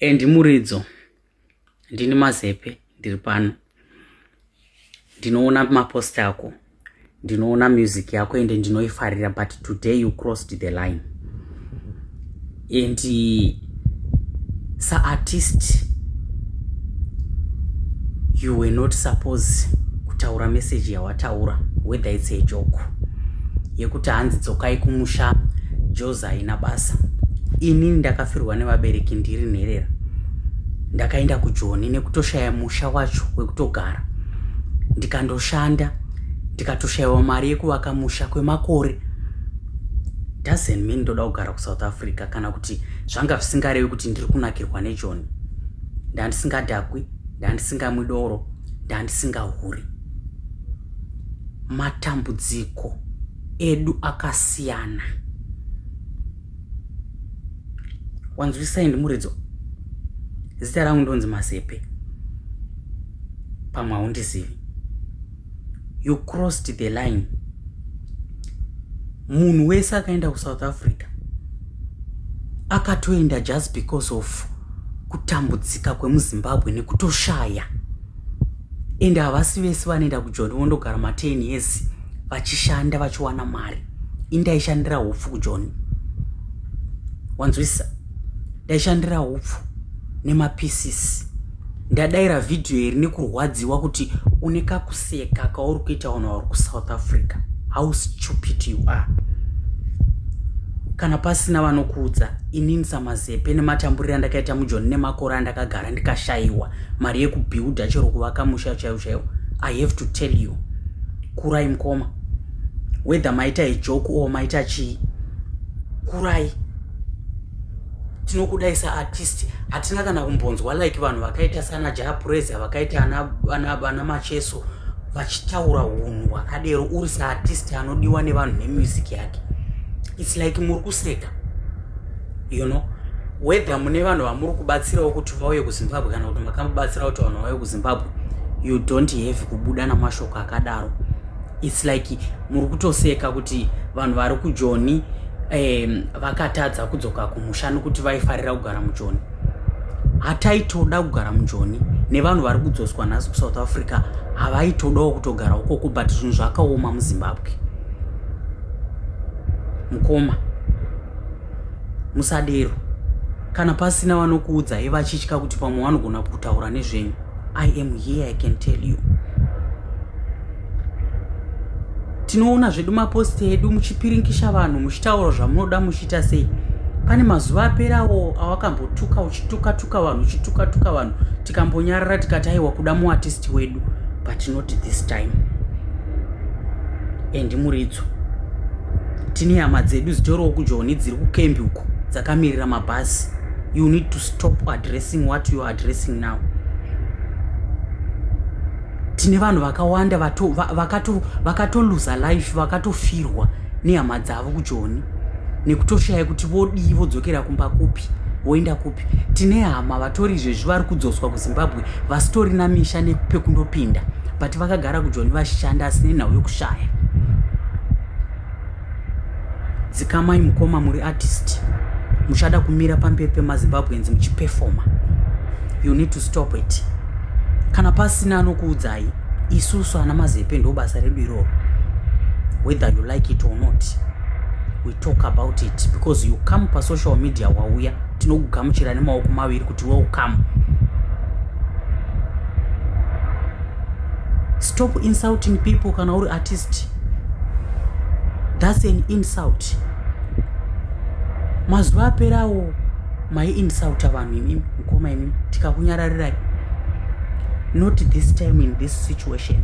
Andy Muridzo, ndini Mazepe ndiri pano. Ndinoona mapost ako, ndinoona music yako ende ndinoifarira but today you crossed the line. And sa artist you were not suppose kutaura message yawataura whether it's a joke yekuti hanzi dzokai kumusha joza haina basa ini ndakafirwa nevabereki ndiri nherera ndakaenda kujoni nekutoshaya musha wacho wekutogara ndikandoshanda ndikatoshayiwa mari yekuvaka musha kwemakore doesn't mean ndoda kugara kusouth africa kana kuti zvanga zvisingarevi kuti ndiri kunakirwa nejoni ndandisingadhakwi ndandisingamwi doro ndandisingahuri matambudziko edu akasiyana wanzwisai ndimuridzo zita rangu ndonzi mazepe pamwe haundizivi you crossed the line munhu wese akaenda kusouth africa akatoenda just because of kutambudzika kwemuzimbabwe nekutoshaya ende havasi vese vanoenda kujoni vondogara ma10 years vachishanda vachiwana mari indaishandira upfu kujoni wanzwisisa ndaishandira upfu nemapisisi ndadaira vhidhiyo iri nekurwadziwa kuti une kakuseka kauri kuita vanhu vauri kusouth africa how stupid you are kana pasina vanokuudza inini samazepe nematamburiro andakaita mujoni nemakore andakagara ndikashayiwa mari yekubuilda chero kuvaka musha chaiwo chaiwo i have to tell you kurai mukoma whether maita ijoku or maita chii kurai tinokudai saartist hatina kana kumbonzwa like vanhu vakaita sana japresa vakaita ana macheso vachitaura unhu hwakadero uri saartist anodiwa nevanhu nemusic yake its like muri kuseka you know whether mune vanhu vamuri kubatsirawo kuti vauye kuzimbabwe kana kuti makamubatsira kuti vanhu vauye kuzimbabwe you don't have kubuda namashoko akadaro its like muri kutoseka kuti vanhu vari kujoni um, vakatadza kudzoka kumusha nokuti vaifarira kugara mujoni hataitoda kugara mujoni nevanhu vari kudzoswa nhasi kusouth africa havaitodawo kutogara ukoko but zvinhu zvakaoma muzimbabwe mukoma musadero kana pasina vanokuudzai vachitya kuti pamwe vanogona kutaura nezvenyu i am here i can tell you tinoona zvedu maposti edu muchipirinkisha vanhu muchitaura zvamunoda muchiita sei pane mazuva aperawo awakambotuka uchitukatuka vanhu uchitukatuka vanhu tikambonyarara tikati aiwa kuda muatisti wedu but not this time and muridzo tine hama dzedu dzitoriwo kujoni dziri kukembi uko dzakamirira mabhasi you need to stop addressing what you're addressing now tine vanhu vakawanda vakatoluza life vakatofirwa nehama dzavo kujoni nekutoshaya kuti vodii vodzokera kumba kupi voenda kupi tine hama vatori izvezvi vari kudzoswa kuzimbabwe vasitori namisha nepekundopinda but vakagara kujoni vashanda asi nenhau yokushaya Dzikamai mukoma muri artist. Muchada kumira pamberi pemaZimbabweans muchiperforma. You need to stop it. Kana pasina anokuudzai isusu ana mazepe ndo basa redu iroro. Whether you like it or not. We talk about it because you come pa social media wauya tinokugamuchira nemaoko maviri kuti welcome. Stop insulting people kana uri artist. thats an insult mazuva aperawo mai insulta vanhu imimi mukoma imimi tikakunyararirai not this time in this situation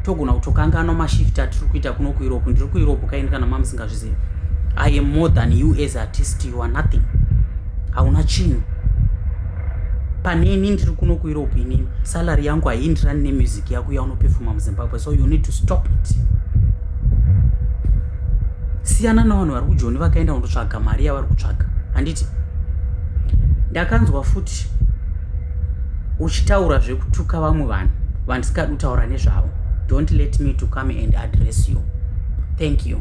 togona kutokanganwa mashift atiri kuita kuno kueurope ndiri kueurope kaini kana mamusingazvizivi i am more than you as artist you are nothing hauna chinhu pane ini ndiri kuno kueurope inini salary yangu haiindirani nemusic yako yaunopefuma muzimbabwe so you need to stop it siyana navanhu vari kujoni vakaenda kundotsvaga mari yavari kutsvaga handiti ndakanzwa futi uchitaura zvekutuka vamwe vanhu vandisingadi kutaura nezvavo don't let me to come and address you thank you